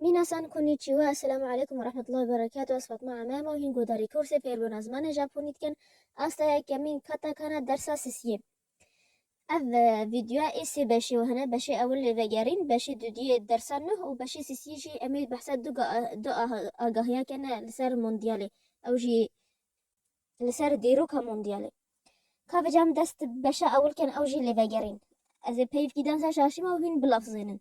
Minasan konnichiwa, Esselamu Aleykum ve Rahmetullahi ve Berekatuh, ez Fatma Amem û hîn guhdarî kursê fêrbûna zimanê Japonî dikim, asta yekemîn katakana dersa sisiyê. Ev vîdyoya ê sê beşî û hene, beşê ewil lê vegerîn, beşê dudiyê dersa nuh û beşê sisiyê jî em ê behsa du du agahiya kene li ser mondyalê ew jî li ser dîroka mondyalê. Ka vêca em dest bi beşa ewil kin ew jî lê vegerîn. Ez ê peyivkî dansa şaşîma û hîn bilafzênin.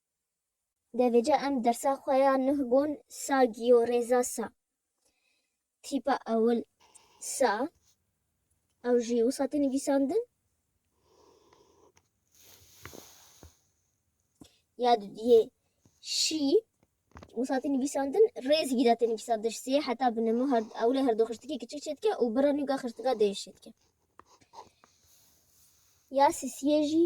Devêca em dersa xwe ya nuh gon sa giyo rêza sa. Tîpa ewil sa ew jî wisa tê nivîsandin. Ya dudiyê şî wisa tê nivîsandin rêz gîda tê nivîsandin sê heta binemo her ewlê her du xirtikê kiçik çê dike û bira nûga xirtika dê şê dike. Ya sisiyê jî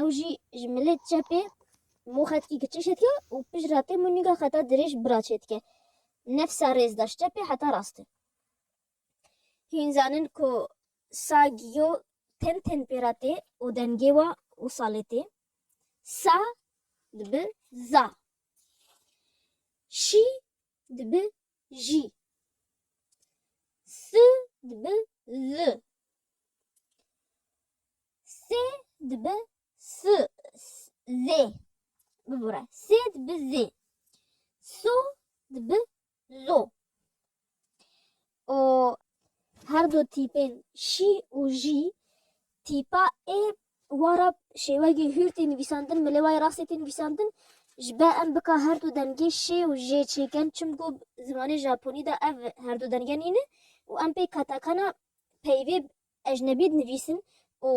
Ew jî ji milê çepê mû xetkî kiçik çêdike û pişt re tê mûnîga xeta dirêj bira çêdike. Nefsa rêz da ji çepê heta rastê. Hîn zanin ku sa giyo tên tên pê re tê û dengê wa û salê tê. Sa dibi za. Şî dibi jî. Si dibi li. Sê dibi su zê. Bibore. Sê dibi zê. Su dibi zo. O her du tîpên şî û jî tîpa ê wan re şêwegê hûr tê nivîsandin milê wayê rastê tê nivîsandin ji be em bika her du dengê şê û jê çêkin çimku zimanê japonî de ev her du denge nîne û em pê katakana peyvê Ecnebî dinivîsin û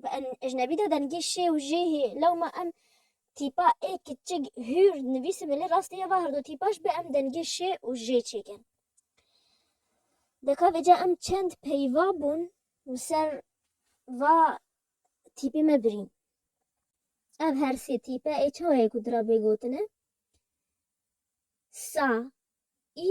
bi ecnebî de dengê şê û jê hê. Lewma em tîpa ê kiçik hür dinivîsin belê rastî heva her du tîpa ji be em dengê şê û jê çêkin. Deka vêca em çend peyva bûn li ser va tîpê me birîn. Ev her sê tîpe ê çawayê ku dira bê gotine, sa, î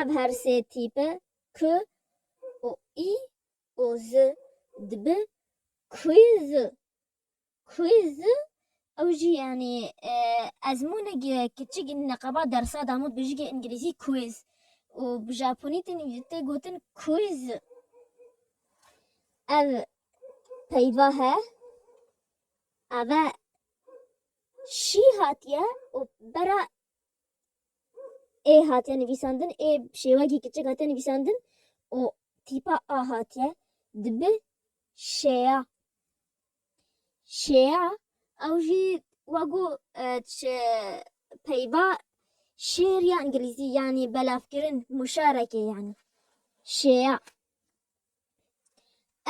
Ev her sê tîpe K û I û Z dibe Quiz. Quiz ew jî yanî ezmûnek e kiçik neqeba dersa Damût bi jî îngilîzî quiz û bi japonî tê gotin quiz. Ev peyva he eve şî hatiye û bera ê hatiye nivîsandin, ê bi şêwekî kiçik hatiye nivîsandin û tîpa a hatiye dibe şêya. Şêya ew jî wa ku e, çi peyva şêr ya îngilîzî yanî belavkirin muşarekê yanî şêya.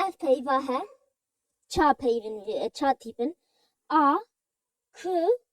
Ev peyva he ça peyvin e, ça tîpin a, k,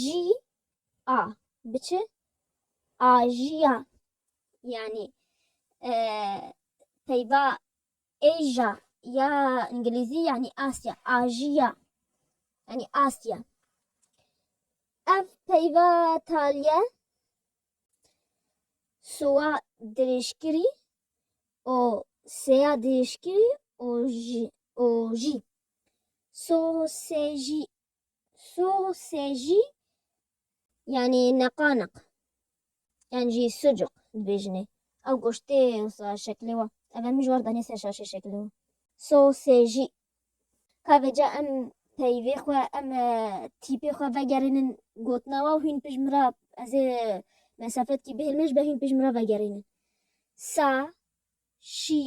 Jî a bi çi? A jî ya yanî peyva Asia ya îngilîzî yanî Asya, a jî ya yanî Asya. Ev peyva taliye sowa dirêjkirî û seya dirêjkirî û jî û jî so sê jî Soxê jî yanî neqaneq yan jî sucuk dibêjinê. Ew goştê wisa şeklê wa. Ev em ji war danê ser şaşê şeklê wa. Soxê jî. Ka vê ca em peyvê xwe em tîpê xwe vegerînin gotina wa û hîn pişt min re ez ê mesafetkî bihêlme ji ber hîn pişt min re vegerînin. Sa, şî,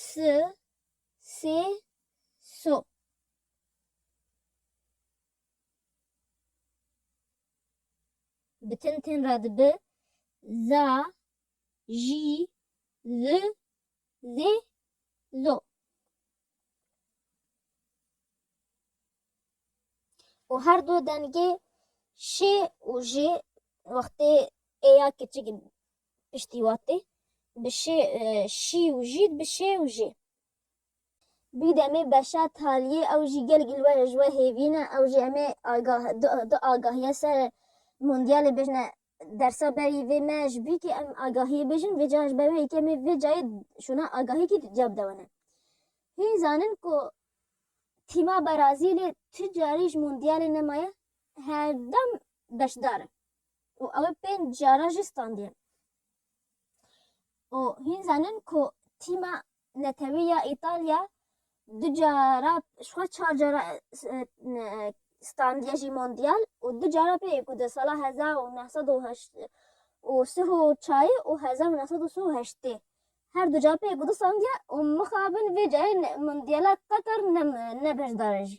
si, sê, so. Bi tin tin re dibi za, ji, zi, zê, zo. Û her du dengê şê û jê wextê ê ya kiçik piştî watê bi şê, şî û jî dibi şê û jê. Bi demê beşa taliyê ew jî gelek li we ji we hêvî ne. Ew jî em ê agah du agahiya ser Mondialê bêjne dersa berî vê me ji bî ke em agahiyê bêjin vê cayan ji ber wê yekê em ê vê cayê şûna agahiyekî di duya bide we ne. Hîn zanin ku tîma Berazîlê tu carî ji Mondialê nemaye her dem beşdar e û ew ê pênc caran jî standiye û hîn zanin ku tîma Netewî ya Îtalya du cara ji xwe çar cara standiye jî Mondyal û du cara pê ye ku di sala hezar û neh sed û heşt û sih û çayê û hezar û neh sed û sih û heştê her du cara pê ye ku di standiye û mixabin vê carê Mondyala Qatar ne ne beşdar e jî.